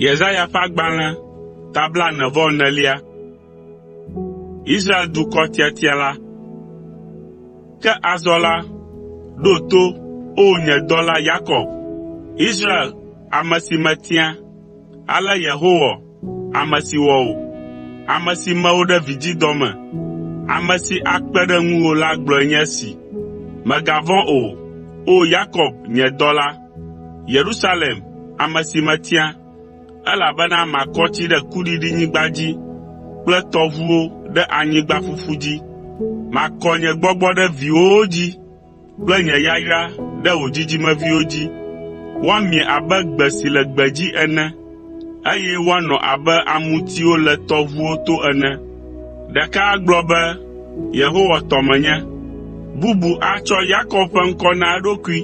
Yesaya ƒe agbalẽ ta blaene-vɔ-enelia. Israel dukɔ tiatia la. Ke azɔ la, ɖo to, O nye dɔla Yakob, Israel ame si metia,” ale Yehowa, ame si wɔ wò, ame si me wò ɖe vidzidɔ me, ame si akpe ɖe ŋuwò la gblɔe nye esi: “Mègavɔ̃ o, O Yakob, nye dɔla, Yerusalem, ame si metia, elabena makɔ tsi ɖe kuɖiɖinyigba dzi kple tɔʋuwo ɖe anyigba ƒuƒu dzi. Makɔ nye gbɔgbɔ ɖe viwòwo dzi, kple nye yayra ɖe wò dzidzimeviwo dzi. Woamie abe gbe si le gbedzi ene, eye woanɔ abe amutiwo le tɔʋuwo to ene. Ɖeka agblɔ be, ‘Yehowa tɔ menye,’ bubu atsɔ Yakob ƒe ŋkɔ na eɖokui,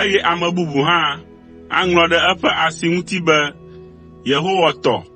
eye ame bubu hã aŋlɔ ɖe eƒe asi ŋuti be, ‘Yehowa tɔ.’ ”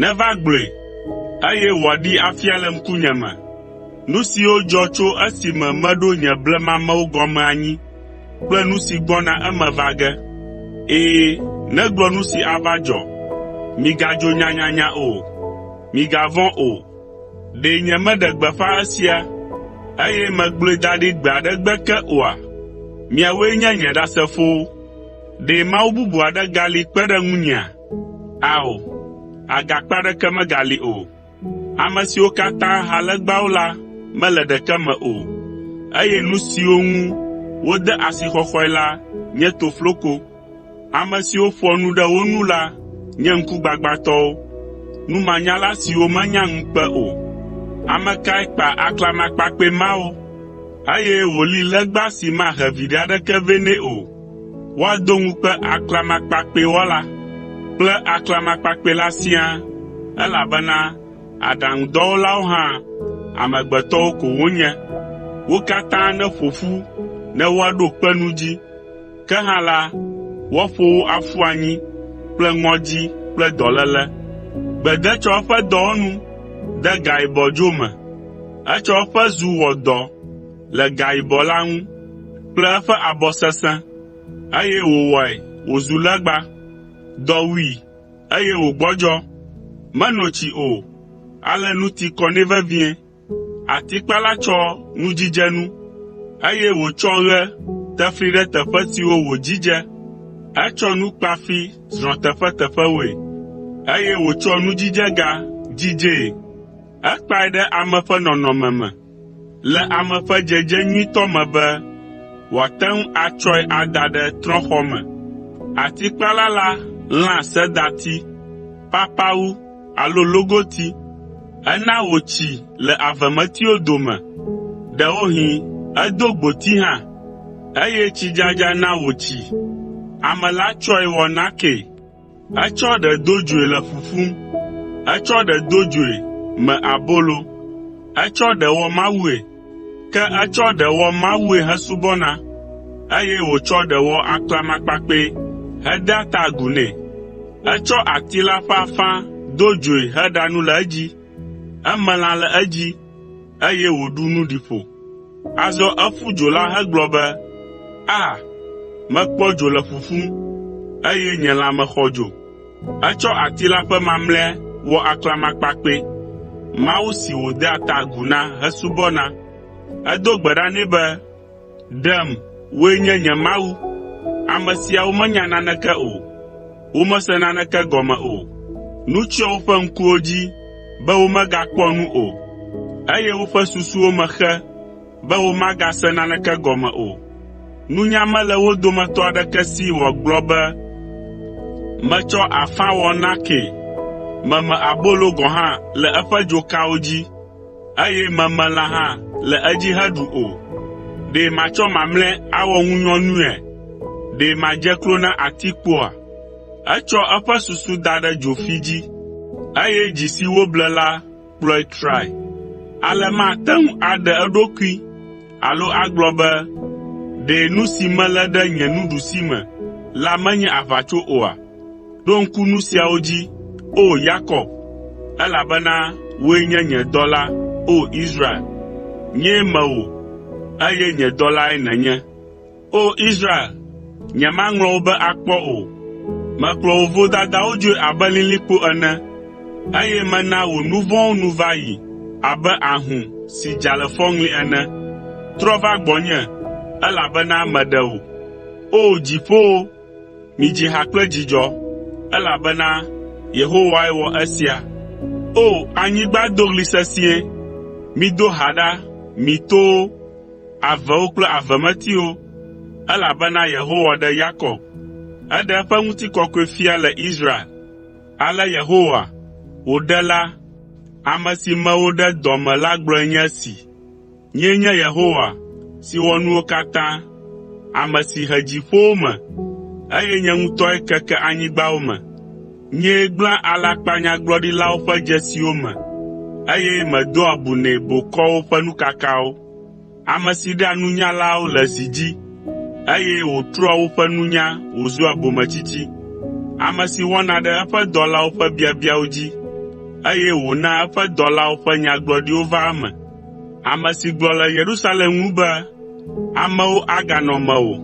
Neva gblɔe, eye wòaɖee afia le ŋkunye me, nu siwo dzɔ tso esime meɖo nye blemamewo gɔme anyi kple nu si gbɔna eme va ge. Ɛ̃, negblɔ nu si ava dzɔ. Migadzo nyanyanya o. Migavɔ̃ o. Ɖe nyemeɖe gbeƒã esia, eye megblɔe da ɖi gbe aɖe gbe ke oa? Miawoe nye nye Ɖasefowo. Ɖe mawu bubu aɖe gali kpe ɖe ŋunyea? Ao, agakpe aɖeke megali o. Ame siwo katã ha legbawo la mele ɖeke me o, eye nu siwo ŋu wode asixɔxɔe la nye tofloko. Ame siwo ƒoa nu ɖe wo nu la nye ŋkugbagbãtɔwo, numanyala siwo menya ŋukpe o. Ame kae kpa aklamakpakpɛ mawo, eye wòli legba si mahe viɖe aɖeke vɛ nɛ o? Woado ŋukpe aklamakpakpɛwɔla kple aklamakpakpɛla siaa, elabena aɖaŋudɔwɔlawo hã amegbetɔwo ko wonye. Wo katã neƒo ƒu ne woaɖo kpe nu dzi, ke hã la, woaƒo wo aƒu anyi kple ŋɔdzi kple dɔléle. Gbe de tsɔ eƒe dɔwɔnu de gae bɔdzo me, etsɔ eƒe zu wɔ dɔ. le gayibɔ la ŋu kple eƒe abɔ sesẽ, eye wòwɔe wòzu legba. Dɔ wui, eye wògbɔdzɔ. Meno tsi o, ale nu ti kɔ nɛ vevie. Atikpala tsɔ nudzidzenu, eye wòtsɔ ɣe tefli ɖe teƒe siwo wòdzidze. Etsɔ nu kpafi zrɔ̃ teƒeteƒewoe, eye wòtsɔ nudzidzega dzidzee. Ekpae ɖe ame ƒe nɔnɔme me, Le ame ƒe dzedze nyuitɔ me be wòate ŋu atsɔe ada ɖe trɔ̃xɔ me. Atikpala la lãa sedati, papawu alo logoti. Ena wòtsi le avemetiwo dome, ɖewohĩ edo gboti hã, eye tsidzadza na wòtsi. Ame la tsɔe wɔ nakee. Etsɔ ɖe do dzoe le ƒuƒum. Etsɔ ɖe do dzoe me abolo. Etsɔ ɖe wɔ mawue. Ke etsɔ ɖe wɔ mawue hesubɔna, eye wòtsɔ ɖe wɔ aklamakpakpɛ hedea ta agu nɛ. Etsɔ ati la ƒe afã do dzoe heɖa nu le edzi. Eme lã le edzi. eye wòɖu nu ɖi ƒo. Azɔ eƒu dzo la hegblɔ be, “A! Mekpɔ dzo le ƒuƒum, eye nye lãme xɔ dzo.” Etsɔ ati la ƒe mamlɛa wɔ aklamakpakpɛ, mawu si wòdea ta agu na hesubɔna. Edo gbe ɖa nɛ be, “Ɖem, wòe nye nye Mawu.” Ame siawo menya naneke o, womese naneke gɔme o. Nu tsyɔ woƒe ŋkuwo dzi be womegakpɔ nu o, eye woƒe susuwo me xe be womagase naneke gɔme o. Nunya mele wo dometɔ aɖeke si wòagblɔ be, “Metsɔ afã wɔ nakee.” Meme abolo gɔ̃ hã le eƒe dzokawo dzi. eye memelã hã le edzi heɖu o. Ɖe matsɔ mamlɛ awɔ ŋunyɔnuea? Ɖe madze klo na atikpoa? Etsɔ eƒe susu da ɖe dzofi dzi, eye dzi si woble la kplɔe trae. Ale mate ŋu aɖe eɖokui alo agblɔ be, “Ɖe nu si melé ɖe nye nuɖusime la menye aʋatso oa?” Ɖo ŋku nu siawo dzi, O Yakob, elabena wòe nye nye dɔla, O Israel, nyee me wò, eye nye dɔlae nènye. O Israel, nyemaŋlɔ wò be akpɔ o. Mekplɔ wò vodadawo dzoe abe lilikpo ene, eye mena wò nu vɔ̃wo nu va yi abe ahũ si dza le fɔŋli ene. Trɔ va gbɔnye, elabena meɖe wò. O dziƒowo, Midzi ha kple dzidzɔ, elabena Yehowae wɔ esia. O! Anyigba do ɣli sesĩe. Mido ha ɖa, mi towo, avewo kple avemetiwo, elabena Yehowa ɖe Yakob, eɖe eƒe ŋutikɔkɔe fia le Israel. Ale Yehowa, wò Ɖela, ame si me wò ɖe dɔ me la gblɔe nye esi. “Nyee nye Yehowa si wɔ nuwo katã, ame si he dziƒowo me, eye nye ŋutɔe keke anyigbawo me. Nyee gblẽa alakpanyagblɔɖilawo ƒe dzesiwo me, eye medoa bu nɛ bokɔwo ƒe nukakawo, ame si ɖea nunyalawo le zi dzi, eye wòtrɔa woƒe nunya wòzua bometsitsi, ame si wɔna ɖe eƒe dɔlawo ƒe biabiawo dzi, eye wònaa eƒe dɔlawo ƒe nyagblɔɖiwo vaa eme. “Ame si gblɔ le Yerusalem ŋu be, ‘Amewo aganɔ mewò,’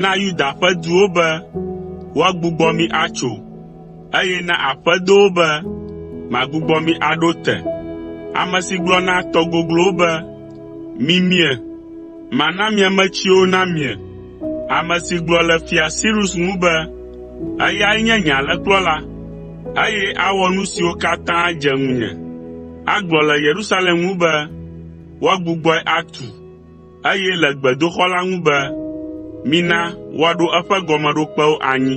na Yuda ƒe duwo be, ‘Woagbugbɔ mi atso,’ eye na aƒedowo be, ‘Magbugbɔ mi aɖo te,’ ame si gblɔ na tɔ goglowo be, ‘Mimie, mana miametsiwo namie,’ ame si gblɔ le Fia Sirus ŋu be, ‘Eyae nye nye alẽkplɔla, eye awɔ nu siwo katã dze ŋunye.’ Agblɔ le Yerusalem ŋu be, “Woagbugbɔe atu,” eye le gbedoxɔ la ŋu be, “Mina woaɖo eƒe gɔmeɖokpewo anyi.”